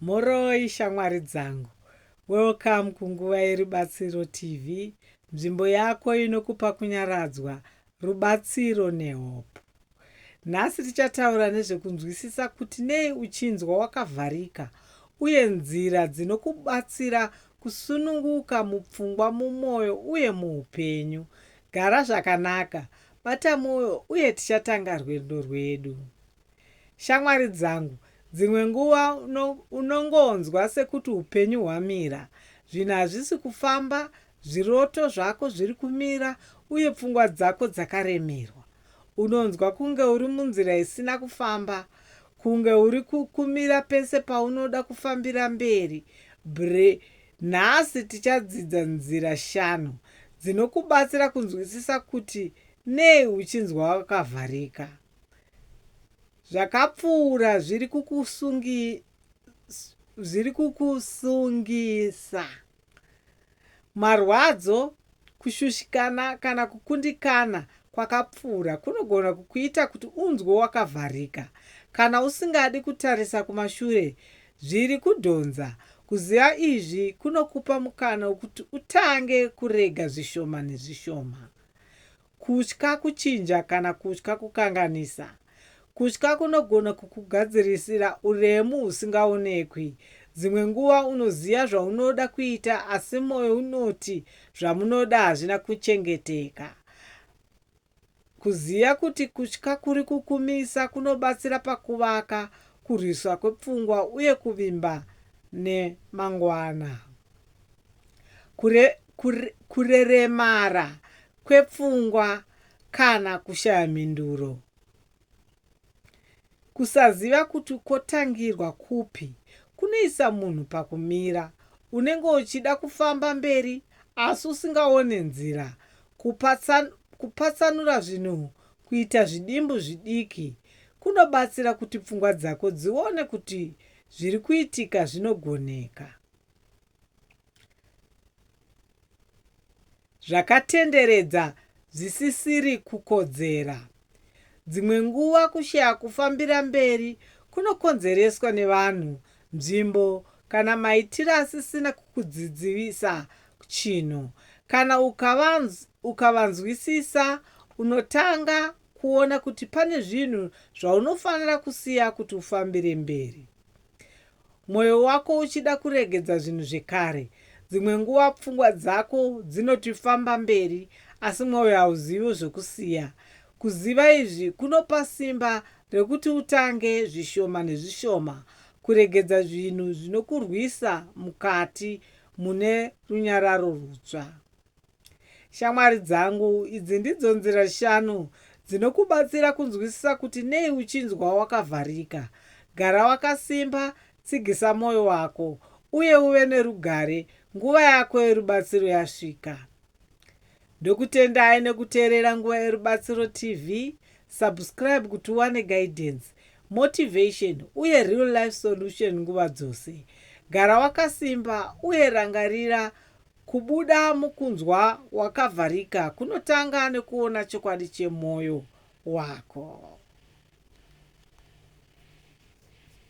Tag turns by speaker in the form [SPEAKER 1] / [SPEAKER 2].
[SPEAKER 1] Mhoroi shamwari dzangu. Welcome kunguva yerubatsiro TV, nzvimbo yako inokupa kunyaradzwa, rubatsiro nehope. Nhasi tichataura nezvekunzwisisa kuti nei uchinzwa wakavharika uye nzira dzinokubatsira kusununguka mupfungwa, mumwoyo uye muupenyu. Gara zvakanaka, bata mwoyo uye tichatanga rwendo rwedu. Shamwari dzangu, dzimwe nguva uno, unongonzwa sekuti upenyu hwamira. Zvinhu hazvisi kufamba, zviroto zvako zviri kumira, uye pfungwa dzako dzakaremerwa. Unonzwa kunge uri munzira isina kufamba, kunge uri ku, kumira pese paunoda kufambira mberi. Br. Nhasi tichadzidza nzira shanu dzinokubatsira kunzwisisa kuti nei uchinzwa wakavharika. zvakapfuura zviri kukusungisa. Marwadzo, kushushikana kana kukundikana kwakapfuura kunogona kukuita kuti unzwe wakavharika kana usingadi kutarisa kumashure zviri kudhonza. Kuziva izvi kunokupa mukana wekuti utange kurega zvishoma nezvishoma. kutya kuchinja kana kutya kukanganisa. Kutya kunogona kukugadzirisira uremu husingaonekwi. Dzimwe nguva unoziva zvaunoda kuita asi mwoyo unoti zvamunoda hazvina kuchengeteka. Kuziva kuti kutya kuri kukumisa kunobatsira pakuvaka kurwiswa kwepfungwa uye kuvimba nemangwana. Kure, kure, kureremara kwepfungwa kana kushaya mhinduro. Kusaziva kuti kwotangirwa kupi kunoisa munhu pakumira. Unenge uchida kufamba mberi asi usingaone nzira. Kupatsan, kupatsanura zvinhu kuita zvidimbu zvidiki kunobatsira kuti pfungwa dzako dzione kuti zviri kuitika zvinogoneka. zvakatenderedza zvisisiri kukodzera. Dzimwe nguva kushaya kufambira mberi kunokonzereswa nevanhu, nzvimbo, kana maitiro asisina kukudzidzivisa chinhu. Kana ukavanzwisisa, unotanga kuona kuti pane zvinhu zvaunofanira kusiya kuti ufambire mberi. mwoyo wako uchida kuregedza zvinhu zvekare. Dzimwe nguva pfungwa dzako dzinoti famba mberi, asi mwoyo hauzivi zvokusiya. Kuziva izvi kunopa simba rokuti utange zvishoma nezvishoma kuregedza zvinhu zvinokurwisa mukati mune runyararo rutsva. Shamwari dzangu, idzi ndidzo nzira shanu dzinokubatsira kunzwisisa kuti nei uchinzwa wakavharika. Gara wakasimba, tsigisa mwoyo wako, uye uve nerugare, nguva yako yerubatsiro yasvika. Ndokutendai nekuteerera Nguva Yerubatsiro TV. Subscribe kuti uwane guidance, motivation, uye real life solution nguva dzose. Gara wakasimba uye rangarira Kubuda mukunzwa wakavharika kunotanga nekuona chokwadi chemwoyo wako.